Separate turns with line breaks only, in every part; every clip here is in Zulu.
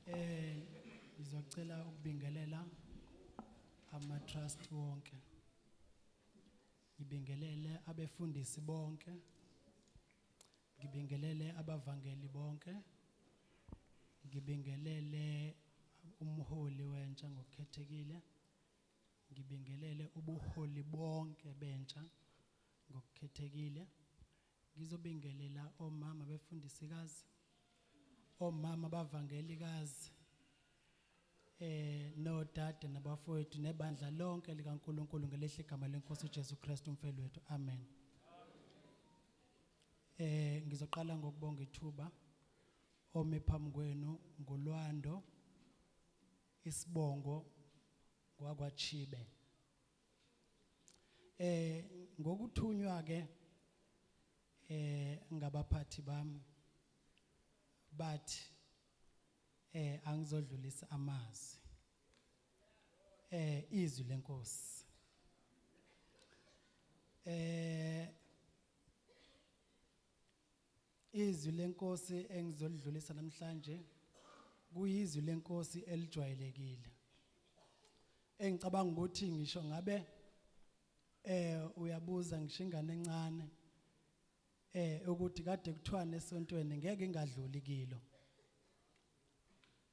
Eh ngizocela ukubingelela ama trust wonke. Ngibingelele abefundisi bonke. Ngibingelele abavangeli bonke. Ngibingelele umholi wentsha ngokukhethekile. Ngibingelele ubuholi bonke bentsha ngokukhethekile. Ngizobingelela omama befundisikazi, omama bavangelikazi, eh nodade nabafowethu nebandla lonke likaNkuluNkulu ngelehle igama lenkosi uJesu Kristu umfelo wethu. Amen. Eh ngizoqala ngokubonga ithuba ome phambi kwenu ngolwando isibongo kwakwaChibe. eh ngokuthunywa ke eh ngabaphathi bami bathi eh angizodlulisa amazwi eh izwi lenkosi eh Izwi lenkosi engizolidlulisa namhlanje kuyizwi lenkosi elijwayelekile. Engicabanga ukuthi ngisho ngabe eh uyabuza ngisho ingane encane eh ukuthi kade kuthiwani esontweni ngeke ingadluli kilo.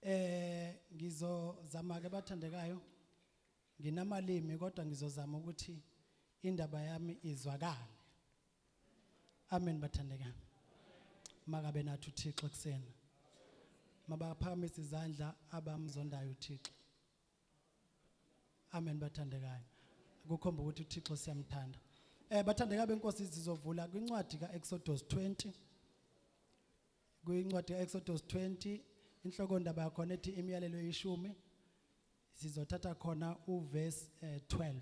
Eh ngizozama ke bathandekayo nginamalimi kodwa ngizozama ukuthi indaba yami izwakale. Amen bathandekana. Makabe nathi uThixo kusena. Mabaphakamise izandla abamzondayo uThixo. Amen bathandekayo. Kukhomba ukuthi uThixo siyamthanda. Eh bathandeka benkosi sizovula kwincwadi kaExodus 20. Kwincwadi kaExodus 20 inhloko ndaba yakho nethi imiyalelo yeshumi sizothatha khona uverse 12. Eh,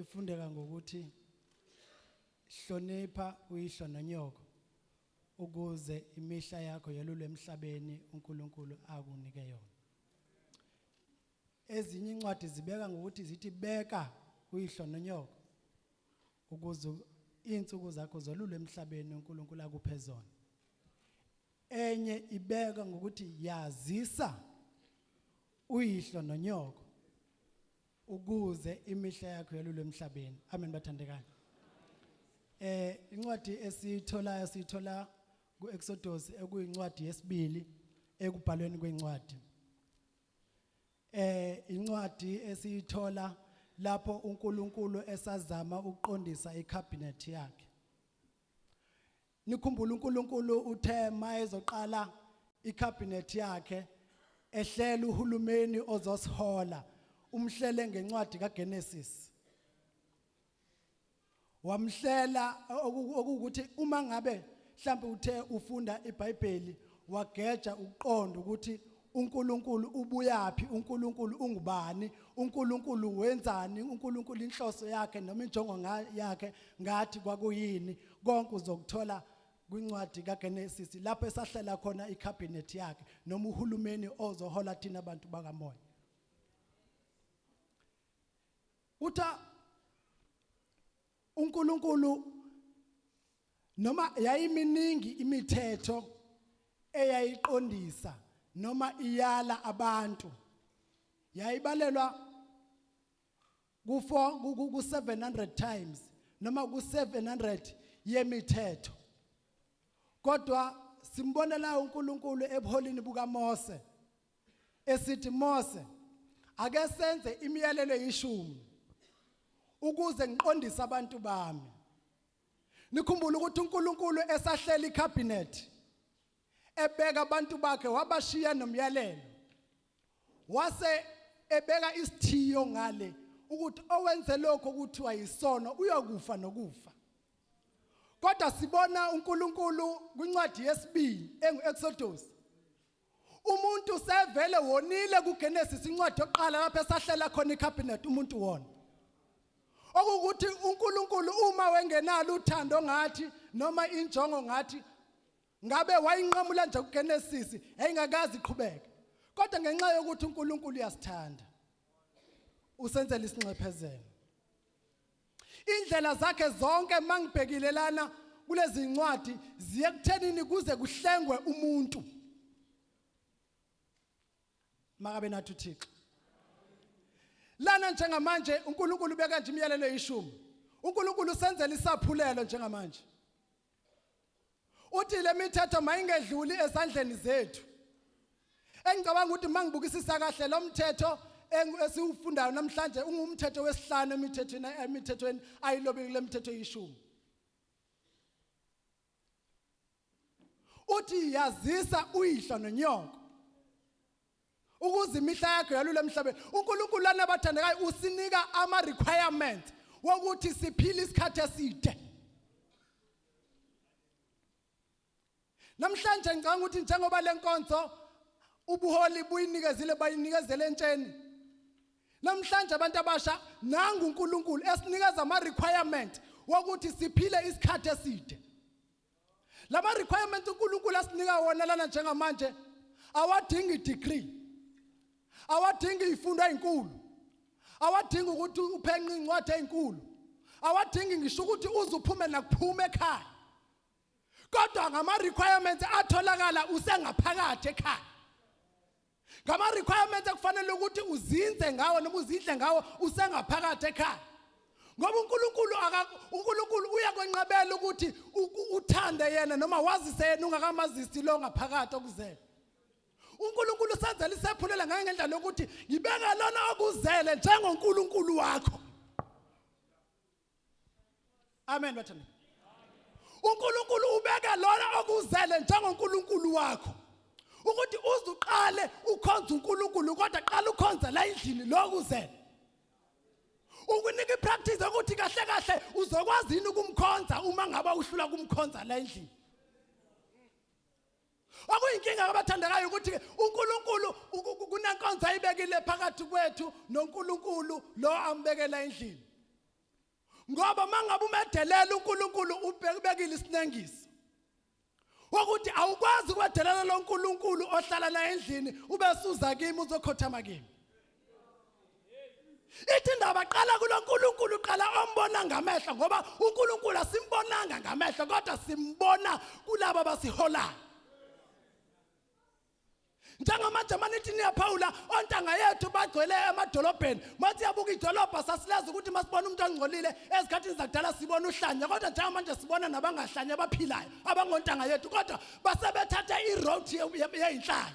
ifundeka ngokuthi hlonipha uyihlo nonyoko ukuze imihla yakho yelule emhlabeni uNkulunkulu akunike yona ezinye incwadi zibeka ngokuthi zithi beka uyihlo nonyoko ukuze izinsuku zakho zolule emhlabeni uNkulunkulu akuphe zona enye ibeka ngokuthi yazisa uyihlo nonyoko ukuze imihla yakho yalule emhlabeni amen bathandekayo eh incwadi esiyitholayo siyithola kuExodus ekuyincwadi yesibili ekubhalweni kwencwadi eh incwadi esiyithola lapho uNkulunkulu esazama ukuqondisa icabinet yakhe Nikhumbula uNkulunkulu uthe mayezoqala icabinet yakhe ehlela uhulumeni ozosihola umhlele ngencwadi kaGenesis wamhlela okuwukuthi uma ngabe mhlawumbe uthe ufunda iBhayibheli wageja ukuqonda ukuthi uNkulunkulu ubuyaphi uNkulunkulu ungubani uNkulunkulu wenzani uNkulunkulu inhloso yakhe noma injongo yakhe ngathi kwakuyini konke uzokuthola kwincwadi kaGenesis lapho esahlela khona icabinet yakhe noma uhulumeni ozohola thina abantu bakamoya utha uNkulunkulu noma yayiminingi imithetho eyayiqondisa noma iyala abantu yayibalelwa ku ku 700 times noma ku 700 yemithetho kodwa simbonela uNkulunkulu ebuholini bukaMose esithi Mose ake senze imiyalelo eyishumi ukuze ngiqondise abantu bami nikhumbule ukuthi uNkulunkulu esahlela icabinet ebeka abantu bakhe wabashiya nomyalelo wase ebeka isithiyo ngale ukuthi owenze lokho kuthiwa yisono uyokufa nokufa kodwa sibona uNkulunkulu kwincwadi yesibili engu-Exodus umuntu sevele wonile kuGenesis incwadi yokuqala lapho esahlela khona icabinet umuntu wona okukuthi uNkulunkulu uma wengenalo uthando ngathi noma injongo ngathi ngabe wayinqamula nje kuGenesis engakazi iqhubeke kodwa ngenxa yokuthi uNkulunkulu uyasithanda usenzela isinxephezelo Indlela zakhe zonke mangibhekile lana kulezi ncwadi ziye kuthenini kuze kuhlengwe umuntu. Makabe nathi uThixo. Lana njengamanje uNkulunkulu beka nje imiyalelo yeshumi. uNkulunkulu senzela isaphulelo njengamanje uthi le mithetho mayingedluli esandleni zethu engicabanga ukuthi mangibukisisa kahle lo mthetho esiwufundayo namhlanje ungumthetho wesihlanu emithethweni emithethweni ayilobile kule mithetho eyishumi uthi yazisa uyihlo nonyoko ukuze imihla yakho yalule emhlabeni uNkulunkulu lana bathandekayo usinika ama requirements wokuthi siphile isikhathi eside namhlanje ngicanga ukuthi njengoba lenkonzo ubuholi buyinikezile bayinikezele entsheni namhlanje abantu abasha nangu uNkulunkulu esinikeza ama requirement wokuthi siphile isikhathi eside lama requirements uNkulunkulu asinika wona lana njengamanje awadingi degree awadingi ifundo ezinkulu awadingi ukuthi uphenqe incwadi ezinkulu awadingi ngisho ukuthi uze uphume nakuphume ekhaya kodwa ngama requirements atholakala usengaphakathi ekhaya ngama requirements ekufanele ukuthi uzinze ngawo noma uzidle ngawo usengaphakathi ekhaya ngoba uNkulunkulu uNkulunkulu uyakwenqabela ukuthi uthande yena noma wazise yena ungakamazisi lo ngaphakathi okuzele uNkulunkulu usenzela isephulela ngaye ngendlela yokuthi ngibeka lona okuzele njengoNkulunkulu wakho amen bathanda uNkulunkulu ubeke lona okuzele njengoNkulunkulu wakho ukuthi uzuqale ukhonza uNkulunkulu kodwa qala ukhonza la endlini lokuzele ukunika ipractice ukuthi kahle kahle uzokwazi yini ukumkhonza uma ngaba uhlula kumkhonza la endlini Okuyinkinga kabathandekayo ukuthi uNkulunkulu kunenkonzo ayibekile phakathi kwethu noNkulunkulu lo ambekela endlini. Ngoba mangabe umedelela uNkulunkulu ubekile isinengiso. Ukuthi awukwazi ukwedelela loNkulunkulu ohlala naye endlini ube suza kimi uzokhothama kimi. ithi indaba qala kuloNkulunkulu uqala ombona ngamehlo ngoba uNkulunkulu asimbonanga ngamehlo kodwa simbona kulabo abasiholayo njengamanje manithi niyaphawula ontanga yethu bagcwele emadolobheni mathi yabuka idolobha sasileza ukuthi masibona umuntu ongcolile ezikhathini zakudala sibona uhlanya kodwa njengamanje sibona nabangahlanya abaphilayo abangontanga yethu kodwa basebethatha iroad yeyinhlanya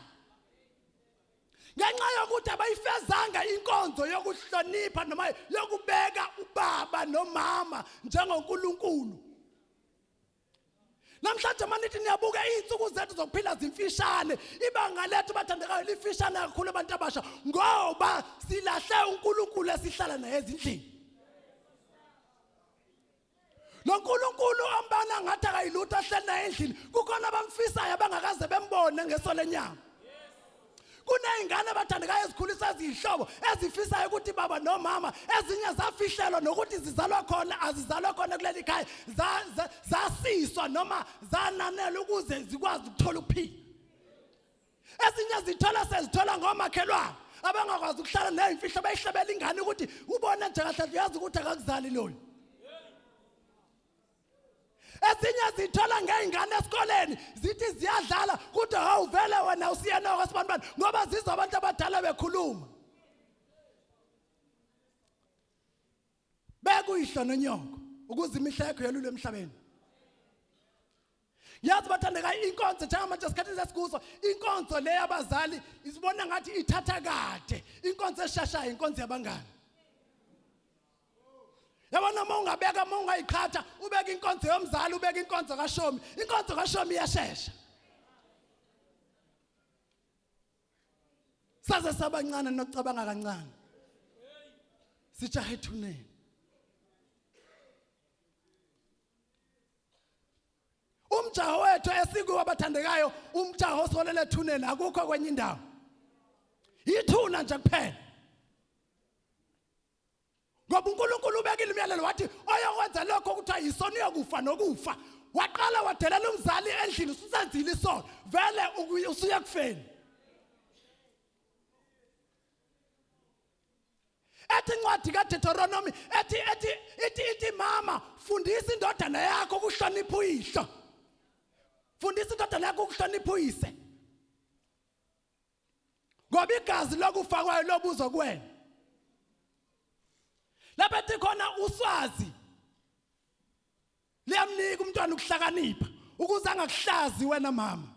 ngenxa yokuthi abayifezanga inkonzo yokuhlonipha noma yokubeka ubaba nomama njengoNkulunkulu namhlanje manithi niyabuka izinsuku zethu zokuphila zimfishane ibanga lethu bathandekayo lifishane kakhulu abantu abasha ngoba silahle uNkulunkulu esihlala naye ezindlini lo nkulunkulu ombana ngathi akayilutho ahleli naye endlini kukhona abamfisayo abangakaze bembone ngeso lenyama kuney'ngane abathandekayo ezikhulisa eziyihlobo ezifisayo ukuthi baba nomama ezinye zafihlelwa nokuthi zizalwa khona azizalwa khona kuleli khaya zasiswa noma zananela ukuze zikwazi ukuthola ukuphila ezinye zithola sezithola ngomakhelwane abangakwazi ukuhlala nezimfihlo bayihlebela ingane ukuthi ubona nje kahle uyazi ukuthi akakuzali loyo ezinye zithola ngey'ngane esikoleni zithi ziyadlala kodwa hawu vele wena usiyenoko sibani bani ngoba zizwa abantu abadala bekhuluma bekuyihlo nonyoko ukuze imihla yakho yelule emhlabeni yazi bathandeka inkonzo njengamanje esikhathini sesikuso inkonzo le yabazali isibona ngathi ithatha kade inkonzo eshashayo inkonzo yabangani yabona uma ungabeka uma ungayiqhatha ubeka inkonzo yomzali ubeka inkonzo kashomi inkonzo kashomi iyashesha saze sabancane nokucabanga kancane sijahe ethuneni umjaho wethu esikuwo abathandekayo umjaho osolele ethuneni akukho kwenye indawo yithuna nje kuphela ngoba uNkulunkulu ubekile imiyalelo wathi oyokwenza lokho ukuthi ayisona uyokufa nokufa waqala wadelela umzali endlini usenzile isono vele usuye kufeni ethi incwadi kaDeuteronomy ethi ethi ithi ithi mama fundisa indodana yakho ukuhlonipha uyihlo fundisa indodana yakho ukuhlonipha uyise ngoba igazi lokufa kwayo lobuzo kuwena lapha ethi khona uswazi liyamnika umntwana ukuhlakanipha ukuze angakuhlazi wena mama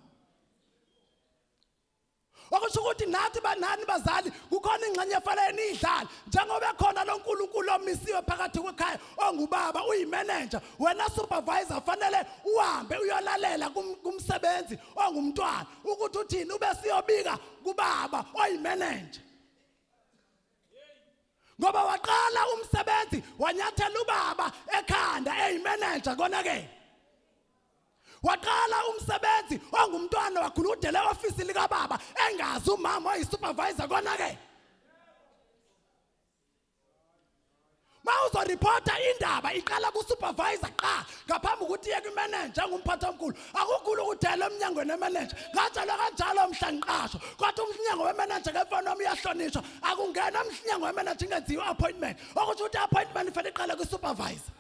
okusho ukuthi nathi banani bazali kukhona ingxenye efanele niyidlale njengoba ekhona lo nkulunkulu omisiwe phakathi kwekhaya ongubaba uyimenenja wena supervisor fanele uhambe uyolalela kumsebenzi ongumntwana ukuthi uthini ube siyobika kubaba oyimenenja ngoba waqala umsebenzi wanyathela ubaba ekhanda eyimanager konakele waqala umsebenzi ongumntwana wakhula udele ofisi likababa engazi umama oyisupervisor konakele mawuzoreporta indaba iqala kusupervisor qha ngaphambi ukuthi iye kwimenenja engumphathi omkhulu akukhulu ukudela emnyangweni wemenenja ngatshelwa kanjalo mhla ngiqashwa kodwa umnyango wemenenja ngefoni wami uyahlonishwa akungena umnyango wemenenja ingenziwa i-appointment okusho ukuthi i-appointment ifele iqale kwi-supervisor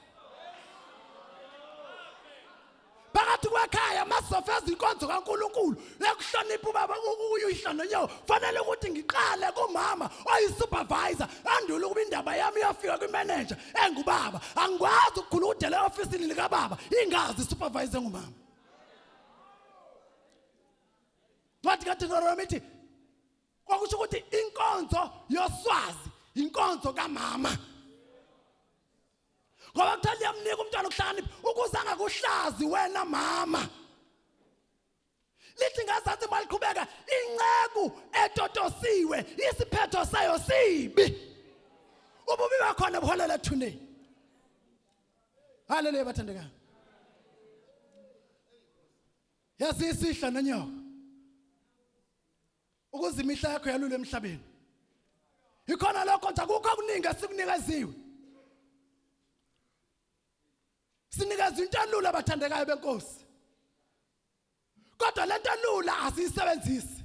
phakathi kwekhaya masizofa izinkonzo kaNkuluNkulu ekuhlonipha ubaba uyihlo nonyawo fanele ukuthi ngiqale kumama oyi-supervisor andule ukuba indaba yami iyofika kwimeneja engubaba angikwazi ukukhuludela e-ofisini likababa ingazi i-supervisor engumama ncwadi kadeteronomi ithi kwakusho ukuthi inkonzo yoswazi inkonzo kamama ngoba kuthiwa liyamnika umntwana ukuhlakanipha ukuze angakuhlazi wena mama lithi ngazathi maliqhubeka inceku etotosiwe isiphetho sayo sibi ububi bakhona buholela ethuneni haleluya bathandekayo yasisihla nonyoka ukuze imihla yakho yalule emhlabeni ikhona lokho nje akukho okuningi esikunikeziwe sinikeza into elula abathandekayo benkosi kodwa lento elula asiyisebenzisi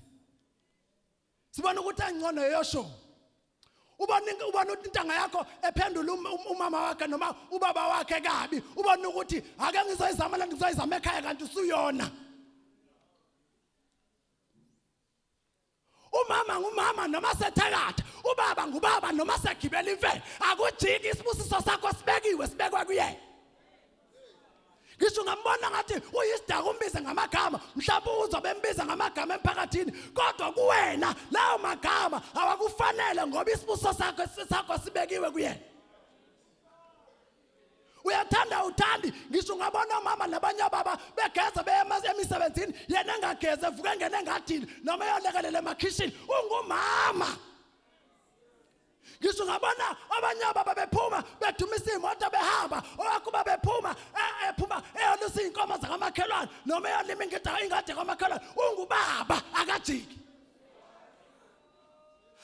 sibona ukuthi engcono yeyosho ubona ubona ukuthi intanga yakho ephendula um, um, umama wakhe noma ubaba wakhe kabi ubona ukuthi ake ngizoyizama la ngizoyizama ekhaya kanti usuyona umama ngumama noma sethakatha ubaba ngubaba noma segibela imfene akujiki isibusiso sakho sibekiwe sibekwa kuyena ngisho ngambona ngathi uyisidaka umbize ngamagama mhlawumbe uzwa bembiza ngamagama emphakathini kodwa kuwena lawo magama awakufanele ngoba isibuso sakho sakho sibekiwe kuyena uyathanda uthandi ngisho ungabona omama nabanye obaba begeza beye emisebenzini yena engageze evuke engene engadini noma eyolekelela emakhishini ungumama ngisho ungabona abanye obaba bephuma bedumisa iy'moto behamba owakuba bephuma e, ephuma eyolusa iy'nkomo zakamakhelwane noma eyolima ingadi kamakhelwane ungubaba akajiki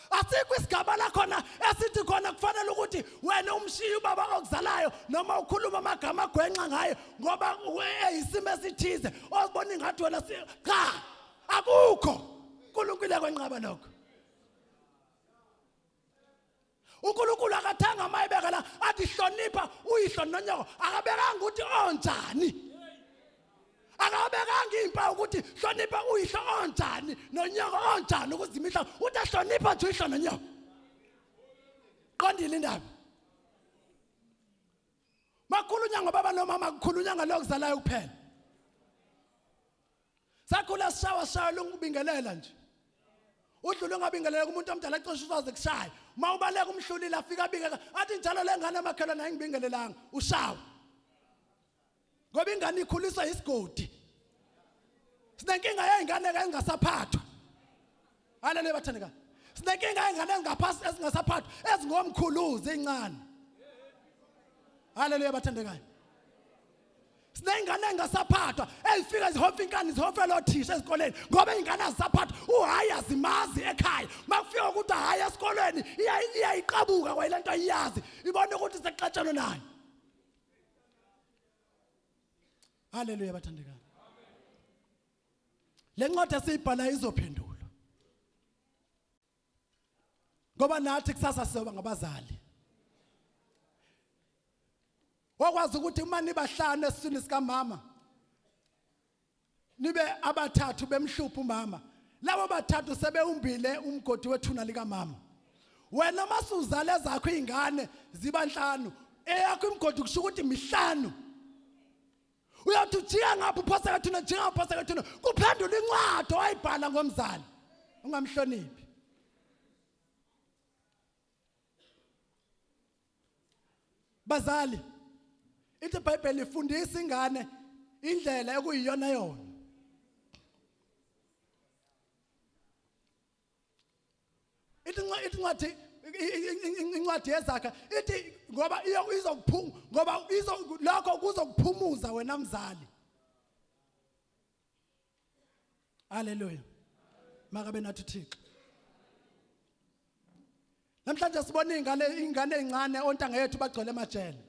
asikho isigaba la khona esithi khona kufanele ukuthi wena umshiye ubaba okuzalayo noma ukhuluma amagama agwenxa ngaye ngoba eyisimo esithize ozibona ingathi wena cha akukho uNkulunkulu yakwenqaba lokho unkulunkulu akathanga uma ebeka la athi hlonipha uyihlo nonyoko akabekanga ukuthi onjani akabekanga iy'mpawu ukuthi hlonipha uyihlo onjani nonyoko onjani ukuze imihla uthi ahlonipha nje uyihlo nonyoko qondile indaba makhulunya ngobaba nomama kukhulunya ngalokuzalayo kuphela sakhula sishawa shawa lungubingelela nje udlule ungabingelela kumuntu omdala cishe uzaze kushaya uma ubaleka umhlulile afika abingeka athi njalo le ngane emakhelwane ayingibingelelanga ushawa ngoba ingane ikhuliswa yisigodi sinenkinga yey'ngane-ke engasaphathwa Haleluya bathandeka. Sinenkinga engane ezingaphansi ezingasaphathwa ezingomkhuluzi ezincane. Haleluya bathandekayo. Sinengane engasaphathwa ezifika zihofa inkani zihofa lothisha ezikoleni ngoba ingane azisaphathwa uhayi azimazi ekhaya makufika ukuthi hayi esikoleni iyayiqabuka kwayilento ayiyazi ibona ukuthi sekuxatshana nayo Haleluya bathandekayo Le ncwadi esiyibhalayo izophendulwa. Ngoba nathi kusasa siyoba ngabazali. Wakwazi ukuthi uma nibahlanu esiswini sikamama nibe abathathu bemhlupha umama. Labo bathathu sebewumbile umgodi wethuna likamama. Wena masuzale zakho izingane ziba nhlanu eyakho imgodi kusho ukuthi mihlanu. uyothi ujika ngapha uphose kathina ujika ngapha uphose kathina kuphendula incwadi owayibhala ngomzali ungamhloniphi bazali ithi ibhayibheli ifundisa ingane indlela ekuyiyona yona ithi ithi incwadi incwadi yezakha ithi ngoba izokuphuma ngoba izo lokho kuzokuphumuza wena mzali haleluya makabe nathi thixo namhlanje sibona ingane ingane ezincane ontanga yethu bagcwele emajele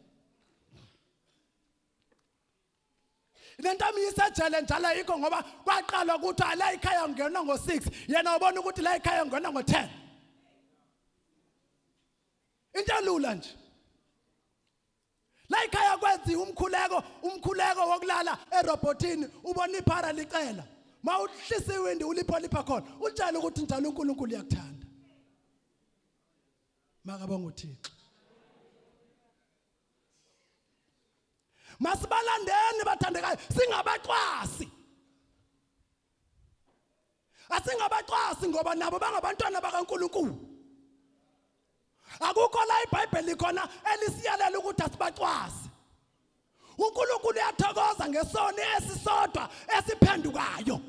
lento amiyisejele njalo yikho ngoba kwaqala ukuthi ala ikhaya ngena ngo6 yena ubona ukuthi la ikhaya ngena ngo10 into elula nje la ikhaya kwenzi umkhuleko umkhuleko wokulala erobotini ubona iphara licela mawuhlisa iwindi ulipho lipha khona utshela ukuthi njalo uNkulunkulu uyakuthanda makabonga uThixo masibalandeni bathandekayo singabacwasi asingabacwasi ngoba nabo bangabantwana bakaNkuluNkulu akukho la iBhayibheli khona elisiyalela ukuthi asibacwasi uNkulunkulu uyathokoza ngesoni esisodwa esiphendukayo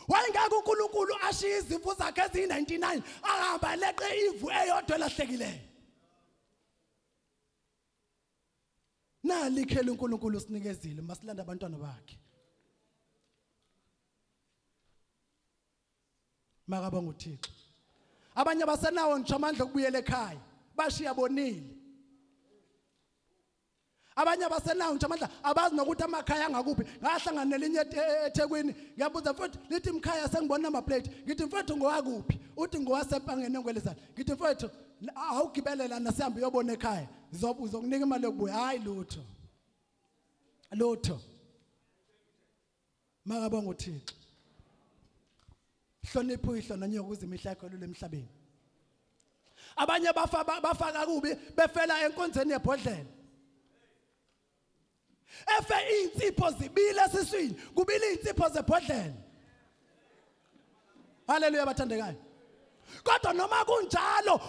wayengeke uNkulunkulu ashiye izimvu zakhe eziyi-99 ahamba leqe imvu eyodwa elahlekileyo nali ikheli uNkulunkulu usinikezile masilanda abantwana bakhe makaba nguThixo abanye abasenawo ngisho amandla okubuyela ekhaya bashiya bonile abanye abaselounge amandla abazi nokuthi amakhaya angakuphi ngahlangana nelinye e- e- eThekwini ngiyabuza mfowethu lithi mkhaya sengibona number plate ngithi mfowethu ngowakuphi uthi ngowasepangeni engwelezana ngithi mfowethu awugibelela nasihambe uyobona ekhaya uzokunika imali yokubuya hayi lutho lutho makabonga uThixo hlonipha uyihlo nonyoko ukuze imihla yakho lule emhlabeni abanye bafa bafaka kubi befela enkonzweni yebhodlela efe insipho zibile siswini kubile insipho zebhodlela haleluya bathandekayo kodwa noma kunjalo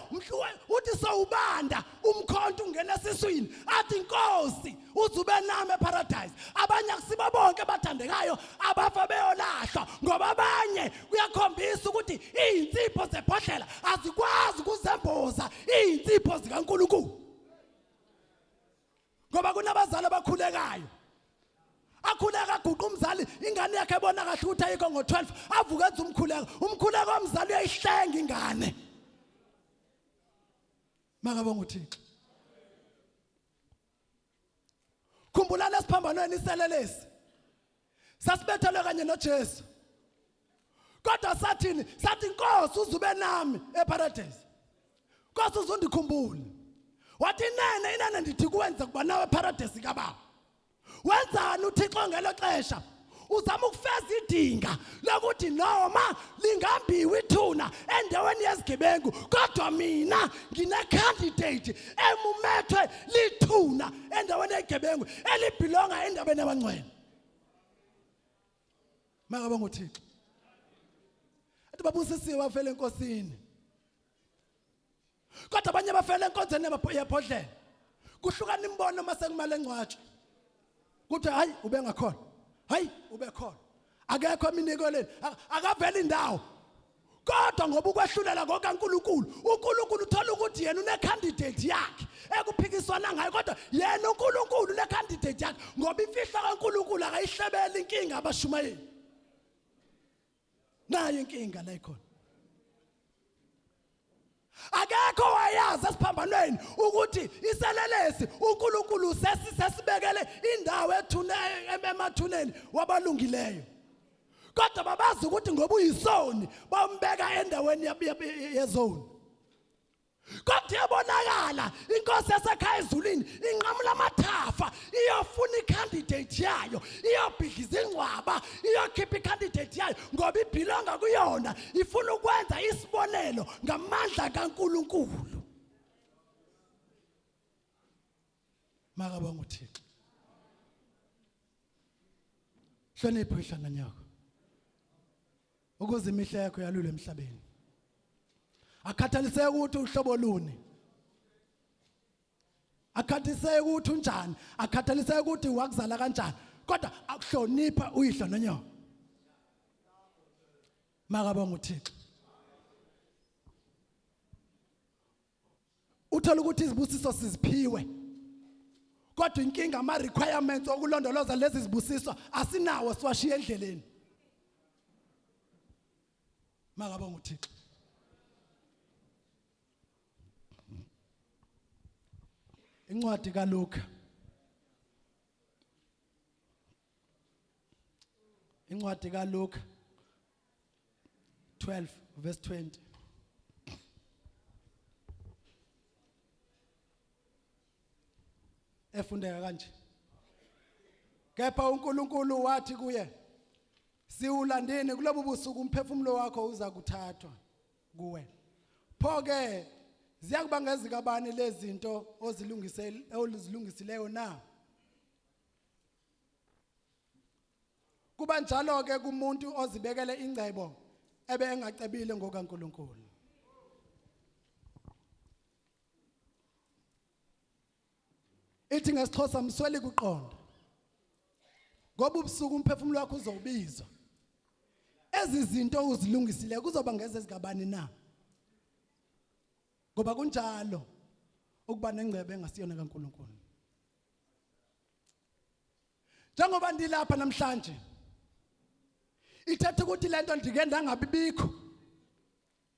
uthi sowubanda umkhonto ungena esiswini athi inkosi uzube nami eparadise abanye akusibo bonke abathandekayo abafa beyolahlwa ngoba abanye kuyakhombisa ukuthi izinsipho zebhodlela azikwazi ukuzemboza izinsipho zikaNkuluNkulu ngoba kunabazali abakhulekayo akhuleka aguqa umzali ingane yakhe ebona kahle ukuthi ayikho ngo-12 avuke enza umkhuleko umkhuleko womzali uyayihlenga ingane makabonga uthixo khumbulani esiphambanweni iselelesi sasibethelwe kanye noJesu kodwa sathini sathi inkosi uzube nami eparadise kodwa uzondikhumbule wathi inene inene ndithi kuwenza kuba nawe eparadise kababa wenzani uthixo ngelo xesha uzama ukufeza idinga lokuthi noma lingambiwa ithuna endaweni yezigebengu kodwa mina ngine-candidate emumethwe lithuna endaweni yezigebengu elibhilonga endabeni yabangcwele makaba ngothixo athi babusisiwe bafela enkosini kodwa abanye bafela enkonzweni yabhodlela kuhlukana imbono uma sekumele ngcwatshwe kuthi hayi ubengakhona hayi ubekhona akekho eminikeleni akaveli indawo kodwa ngoba ukwehlulela kokaNkulunkulu uNkulunkulu uthola ukuthi yena unecandidate yakhe ekuphikiswana ngayo kodwa yena uNkulunkulu unecandidate yakhe ngoba imfihlo kaNkulunkulu akayihlebeli inkinga abashumayeli nayo inkinga la ikhona akekho wayazi esiphambanweni ukuthi iselelesi uNkulunkulu sesibekele indawo ethune emathuneni wabalungileyo kodwa babazi ukuthi ngoba uyisoni bambeka endaweni yezoni kodwa iyabonakala inkosi yasekhaya ezulwini inqamula amathafa iyofuna icandidate yayo iyobhidliza ingcwaba iyokhipha icandidate yayo ngoba ibhilonga kuyona ifuna ukwenza isibonelo ngamandla kaNkuluNkulu makabonga uThixo hlonipho ihlanga nyoko ukuze imihla yakho yalule emhlabeni akhathaliseke ukuthi uhlobo luni akhathaliseke ukuthi unjani akhathaliseke ukuthi wakuzala kanjani kodwa akuhlonipha uyihlo nonyoko makabonga uthixo uthola ukuthi izibusiso siziphiwe kodwa inkinga ama requirements okulondoloza lezi zibusiso asinawo siwashiya endleleni makabonga uthixo incwadi kaLuka incwadi kaLuka 12 verse 20 efundeka kanje kepha uNkulunkulu wathi kuye siwulandeni kulobu busuku umphefumulo wakho uza kuthathwa kuwe pho ke ziyakuba ngezikabani lezinto ozilungisele olizilungisileyo na kuba njalo ke kumuntu ozibekele ingcebo ebe engacebile ngokaNkuluNkulu ithi ngesixhosa msweli kuqonda ngoba ubusuku umphefumulo wakho uzowubizwa ezi zinto uzilungisile kuzoba ngeze zikabani na ngoba kunjalo ukuba nengcebe engasiyona kaNkuluNkulu njengoba ndilapha namhlanje ithetha ukuthi lento ndike ndangabibikho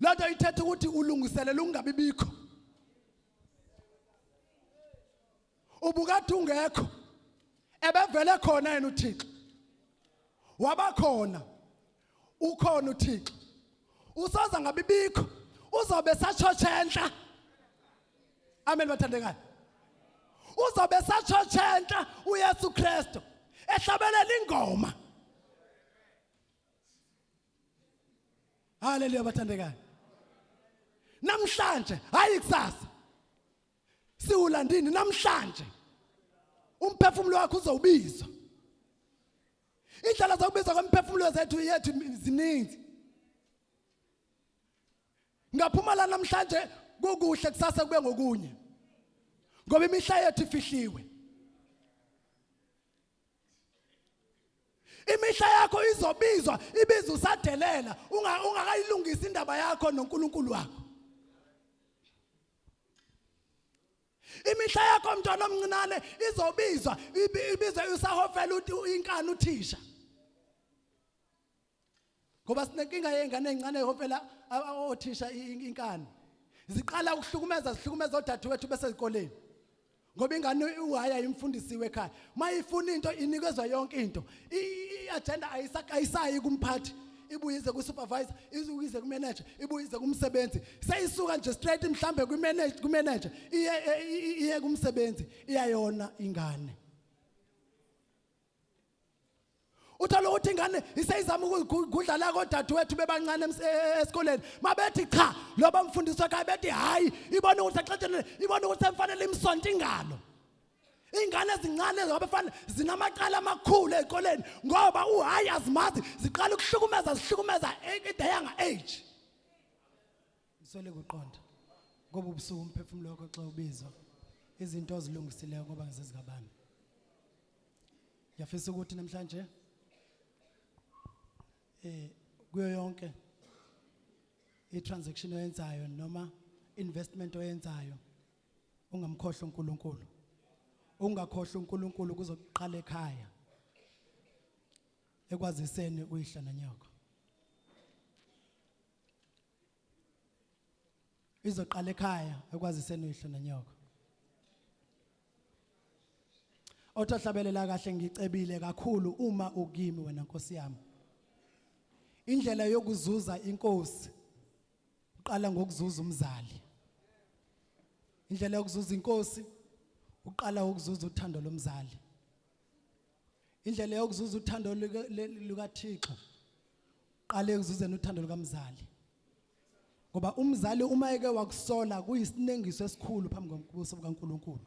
loo nto ithetha ukuthi ulungiselela ukungabi bikho ubukade ungekho ebevele khona yena uthixo wabakhona ukhona uthixo usoza ngabi bikho uzobe satshotshe enhla amen bathandekayo uzobe satshotshe enhla uyesu kristu ehlabelela ingoma Haleluya bathandekayo. Namhlanje hayi kusasa. Siwulandini namhlanje. Umphefumulo wakho uzowubizwa. Indlela zokubizwa kwemphefumulo zethu yethu ziningi. Ngaphuma la namhlanje kukuhle kusasa kube ngokunye. Ngoba imihla yethu ifihliwe. imihla yakho izobizwa ibiza usadelela ungakayilungisa indaba yakho noNkulunkulu wakho imihla yakho mntwana omncinane izobizwa ibizwe usahofela inkani uthisha ngoba sinenkinga yezingane ezincane hompela othisha inkani ziqala ukuhlukumeza zihlukumeza odadewethu besezikoleni ngoba ingane uwaya imfundisiwe ekhaya mayifuna into inikezwa yonke into i-agenda ayisayi kumphathi ibuyize kusupervisor ibuyize kumanager ibuyize kumsebenzi seyisuka nje straight mhlambe kumanager kumanager iye iye kumsebenzi iyayona ingane uthola ukuthi ingane iseyizama ukugudla la kodadewethu bebancane e-, esikoleni mabethi cha lo bamfundisi wakhe bethi hhayi ibona ukuthi exetshenile ibona ukuthi emfanele imsonto ingalo ingane ezincane zabafana zinamacala amakhulu ezikoleni ngoba uhayi azimazi ziqala ukuhlukumeza zihlukumeza e-, at the younger age Ngisole kuqonda ngoba ubusuku umphefumulo wakho xa ubizwa izinto ozilungisileyo ngoba ngizezikabani. Ngiyafisa ukuthi namhlanje eh kuyo yonke i-transaction oyenzayo noma investment oyenzayo ungamkhohlwa uNkulunkulu ungakhohlwa uNkulunkulu kuzoqala ekhaya ekwaziseni uyihla nanyoko izoqala ekhaya ekwaziseni uyihlo nonyoko othahlabelela kahle ngicebile kakhulu uma ukimi wena nkosi yami indlela yokuzuza inkosi uqala ngokuzuza umzali indlela yokuzuza inkosi uqala ukuzuza uthando lomzali indlela yokuzuza uthando lukaThixo qale ekuzuzeni uthando lukamzali ngoba umzali uma eke wakusola kuyisinengiso esikhulu phambi kokubuso bukaNkuluNkulu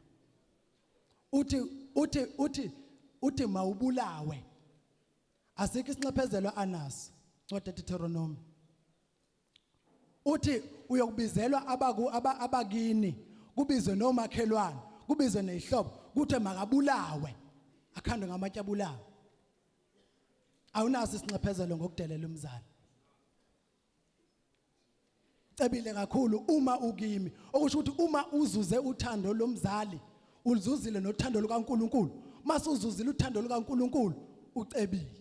uthi uthi uthi uthi mawubulawe asikho isinxephezelo anaso ncwadi Deuteronomy uthi uyokubizelwa abaku aba- abakini kubizwe nomakhelwane kubizwe nezihlobo kuthe makabulawe akhandwe ngamatshe abulawe awunaso isinxephezelo ngokudelela umzali cebile kakhulu uma ukimi okusho ukuthi uma uzuze uthando lomzali uluzuzile nothando lukaNkuluNkulu mase uzuzile uthando lukaNkuluNkulu ucebile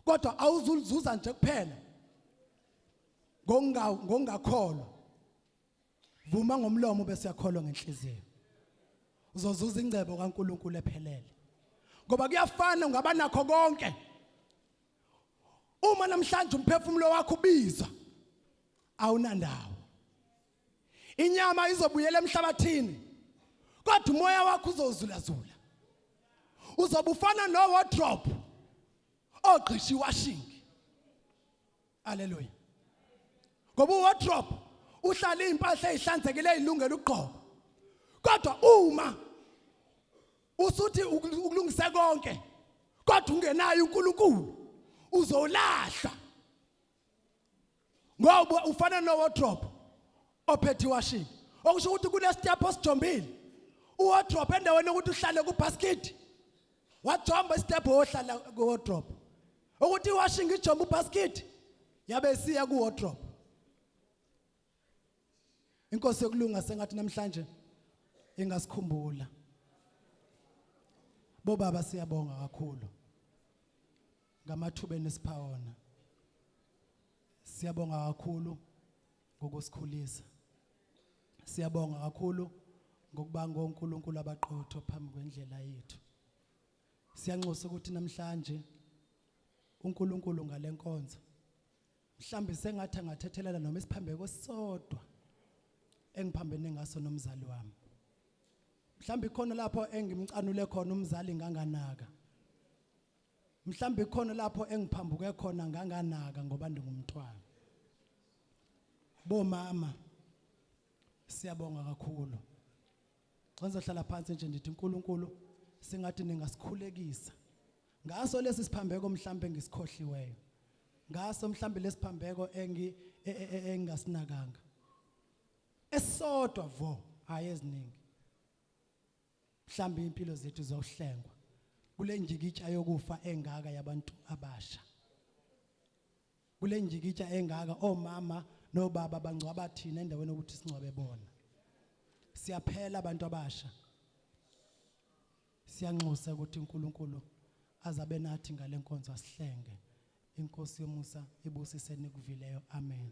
kodwa awuzulizuza nje kuphela ngonga ngongakholwa vuma ngomlomo bese yakholwa ngenhliziyo uzozuza ingcebo kaNkuluNkulu ephelele ngoba kuyafana ungaba nakho konke uma namhlanje umphefumulo wakho ubizwa awunandawo inyama izobuyela emhlabathini kodwa umoya wakho uzozulazula uzobe ufana nowardrobe ogqisha iwashingi aleluya ngoba uwardrobe uhlala izimpahla ezihlanzekile ezilungele ukugqoka kodwa uma usuthi ukulungise konke kodwa ungenayo uNkulunkulu uzolahla ngoba ufana nowardrobe ophethe iwashini okusho ukuthi kunestepho osijombile uwardrobe endaweni yokuthi uhlale kubasket wajomba istepho wohlala kuwardrobe ukuthi iwashing ijomba ubasket yabe siya kuwardrobe inkosi yokulunga sengathi namhlanje ingasikhumbula bobaba siyabonga kakhulu ngamathuba enisipha wona siyabonga kakhulu ngokusikhulisa siyabonga kakhulu ngokuba ngoNkulunkulu abaqotho phambi kwendlela yethu siyanxusa ukuthi namhlanje uNkulunkulu ngalenkonzo mhlambe sengathi angathethelela noma isiphambeko sisodwa engiphambene ngaso nomzali wami mhlambe khona lapho engimcanule khona umzali nganganaka mhlawumbe khona lapho engiphambuke khona nganganaka ngoba ndingumntwana bomama siyabonga kakhulu xa ngizohlala phansi nje ndithi uNkulunkulu singathi ningasikhulekisa ngaso lesi siphambeko mhlambe ngisikhohliweyo ngaso mhlambe lesiphambeko engi e, e, e, engasinakanga esodwa vo hayi eziningi mhlambe impilo zethu zohlengwa kulenjikitsha yokufa engaka yabantu abasha kulenjikitsha engaka omama nobaba bangcwaba thina endaweni ukuthi singcwabe bona siyaphela abantu abasha siyanxusa ukuthi uNkulunkulu azabe nathi ngalenkonzo asihlenge inkosi yomusa ibusise nikuvileyo amen